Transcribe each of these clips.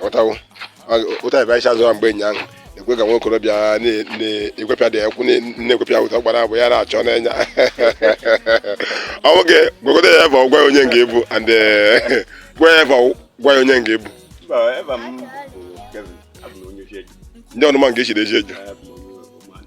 ghọtawo otu anyị bịacha azụ mgbe ụnyaahụ ekwe ka nwa okorobịa na-egwepịa the ekwu na-egwepịa ụta gbara abụ ya na-achọ n'anya ọ nwoke gwagodo ya ebe gwa onye nke ị bụ and eh, gwa ya ebe gwa ya onye nke ị bụ ndị ọnụma nke i shiri Eziecho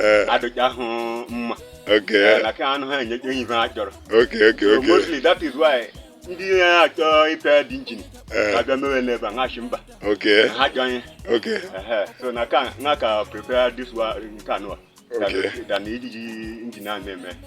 Eh. adịghị ahụ mma Okay. Eh, na ka anụ ha enye enyi ha chọrọ Okay, okay, So okay. mostly that is why ndị na-achọ ịpịa the engine Eh. ga-abịa mewe n'ebe a ha sị mba Okay. ha chọọ ihe Okay. Ehe, so na ka na ka prepare this one nke anụwa Okay. than iji engine a na-eme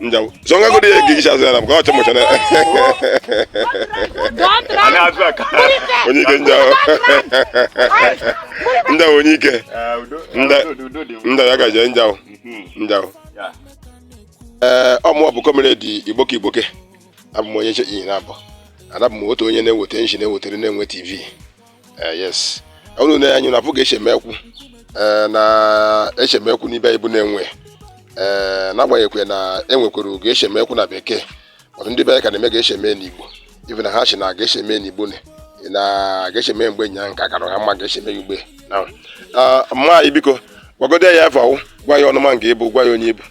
Njaw. So nga godi e gigi chasse na ko chamo chana. Don't try. Ana atu aka. Onye ike njaw. Njaw onye ike. Nda nda ya gaje njaw. Njaw. Eh ọ mụ bụ Comrade Igboke Igboke. Abụ m onye che iyi na abụ. And abụ m otu onye na-eweta nshi na-ewetara Nenwe TV. eh, yes unu na anyị na-afụ ga eshi eme ekwu eh, na-eshi eme ekwu n'ibe anyị bụ Nenwe ee eh, n'agbanyeghịkwa na enwekwara ga eshi eme ekwu na bekee but ndị be anyị ka na-eme ga eshi eme n'igbo ibe na ha shi na ga eshi eme n'igbo na ga eshi eme mgbe nya nka kara ha mma ga eshi eme ya ugbe na ah, mma anyị biko gwagodo ya afọ gwa ya ọnụma nke ịbụ gwa ya onye ịbụ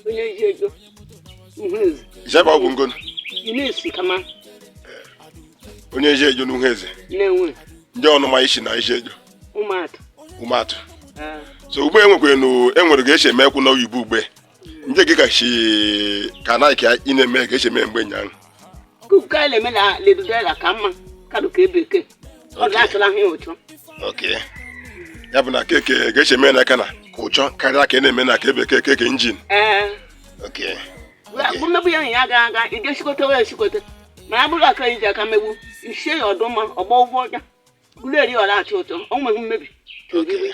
onye Eziecho Uhueze jebe ọgwụ ngonu Eunice Kama onye Eziecho n'Uhueze Nenwe ndị ọnụma i si na Eziecho Ụmụatụ Ụmụatụ Ah, so ugbe enwekwe na enwere ga esi eme ekwu na oyibo ugbe ndị gị ka si ka na ka ị na-eme ga esi eme mgbe nyaahụ kuka ele me la le do dela kama ka do ke beke o da tla hin ocho okay ya bụ na keke ga eshi eme n'aka na-aka ụchọ karịa ka ị na-eme na ka ebe keke ke injin eh okay bu me bu ya ya ga ga i de sikote we sikote ma bu la ka ije ka mebu ise odoma obo obo ja bu le ri ola ati oto o me mebi okay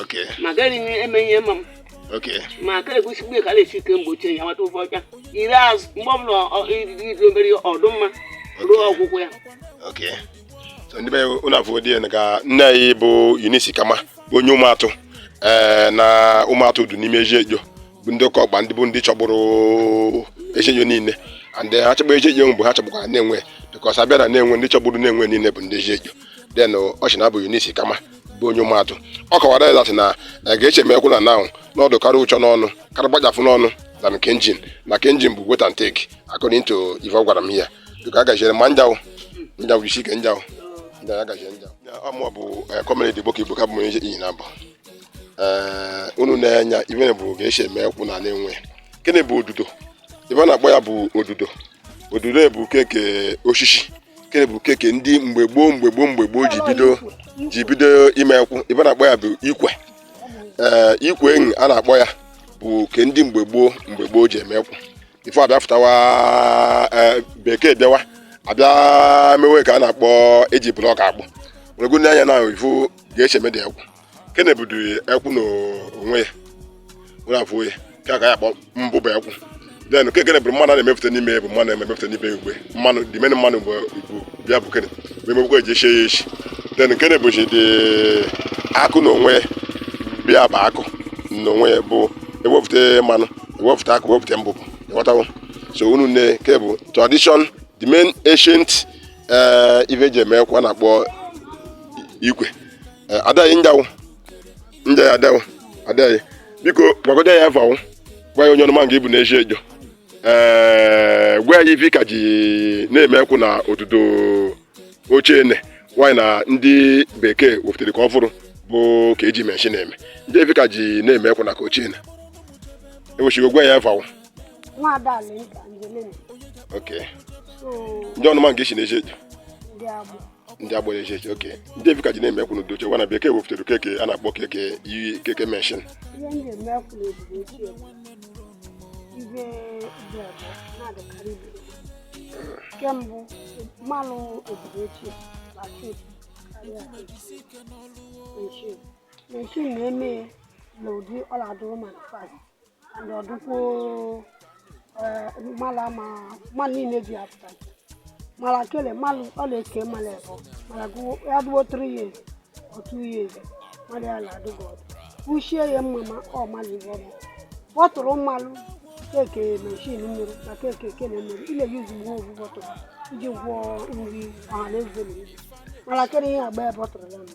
Okay. ma gaghị m eme ihe ma m Okay. ma aka egosi mgbe ka a na-esi ike mgbochi ya nwata ụfọ ọcha ire azụ mgbe ọbụla ọ- iri iri obere ọdụ mma ruo ọgwụgwụ ya Okay. So ndị be anyị unu afụ dị na ka nne anyị bụ Eunice Kama bụ onye Ụmụatụ ee na Ụmụatụ dị n'ime Eziecho bụ ndị ụka ọgba ndị bụ ndị chọburu Eziecho niile and ha chọbu Eziecho mgbe ha chọbukwara Nenwe because abịa na Nenwe ndị chọburu Nenwe niile bụ ndị Eziecho then ọ sị na abụ Eunice Kama bụ onye Ụmụatụ ọ kọwara that na ga eshi eme ekwu na naụ n'ọdụ karịa ụchọ n'ọnụ karịa gbajafụ n'ọnụ na nke engine na nke engine bụ wait and take according to ife ọ gwara m ya biko agaziere ma njaụ njaụ jisi ike njaụ njaụ agazie njaụ ọ mụ bụ Comrade Igboke Igboke bụ onye iyi na abụ ee unu na-enya ibe bụ ga eshi eme ekwu na Nenwe kene bụ odudo ibe a na-akpọ ya bụ odudo odudo bụ keke osisi kene bụ keke ndị mgbe gboo mgbe gboo mgbe gboo ji bido ji bido ime ekwu ive a na-akpọ ya bụ ikwe ee ikwe enyi a na-akpọ ya bụ ke ndị mgbe gboo mgbe gboo ji eme ekwu ife abịa fụtawa e, bekee bịawa abịa mewe ka a na-akpọ eji blọk akpụ wegoro n'anya na ifu ga-eshi mede ekwu kene budu ekwu na onwe ya were afọ ya ka aka ya kpọ mbụbụ ekwu then nke kene bụrụ mmanụ a na-emepụta n'ime ya bụ mmanụ na-emepụta n'ime ikwe mmanụ dị mene mmanụ bụ igbo bịa bụ kene bụ emebụkwa eji eshi ya eshi then kene bụchi dị akụ na onwe ya bịa bụ akụ na onwe ya bụ ewepụta mmanụ ewepụta akụ wepụta mbụbụ ịghọtawo so unu ne nke bụ tradition the main ancient eh, ife eji eme ekwu a na-akpọ ikwe eh, adaghị njawo nje ya adawụ adaghị biko gwagodo ya eva wo gwa ya onye ọnụma nke ị bụ na-eji ejo ee eh, gwa ya ife ka ji na-eme ekwu na otuto ochie ene nwaanyị na ndị bekee wepụtara ka ọfụrụ bụ ka eji meshin na-eme ndị ife ka ji na-eme ekwu na ka ochie ene enwechigo gwa ya eva wo okay ndị ọnụma nke si na-eji ejo ndị agbara eji eji oke ndị ive ka ji na-eme ekwu n'ụdị ochie wa na bekee wepụtara keke a na-akpọ keke iyi keke meshin kembụ mmanụ obodo ochie na-atọ ụtọ karịa meshin meshin na-eme ya n'ụdị ọla dụrụ ma fast and ọdụkwo eh, mala ma ma niile ji apụta mala kele mala ọla eke mala ebo mala gụwo ya dụwo 3 years or 2 years mala ya na-adụ good ọdụ kwuchie ya mma ma ọ mala ibe ọma bọtụrụ mmalụ keke meshin mmiri na keke kene mmiri ile ya ozugbo ovu bọtụrụ iji gwọọ nri ọha na eze na ibu mala kele ihe agba ya bọtụrụ ya mma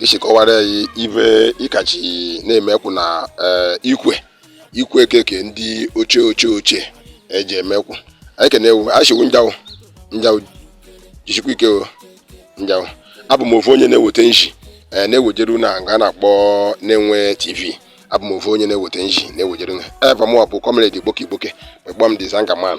ishi kọwara anyị ive ị ka ji na-eme ekwu na eh, ikwe ikwe keke ndị ochie ochie ochie eji eme ekwu anyị ekene wo a shị wo njawo njawo jisikwa ike o njawo abụ m ofu onye na-eweta nji eh, na-ewejeru na nga a na-akpọ Nenwe TV abụ m ofu onye na-eweta nji na-ewejeru na eva mụ bụ comrade Igboke Igboke kpọm the zanga man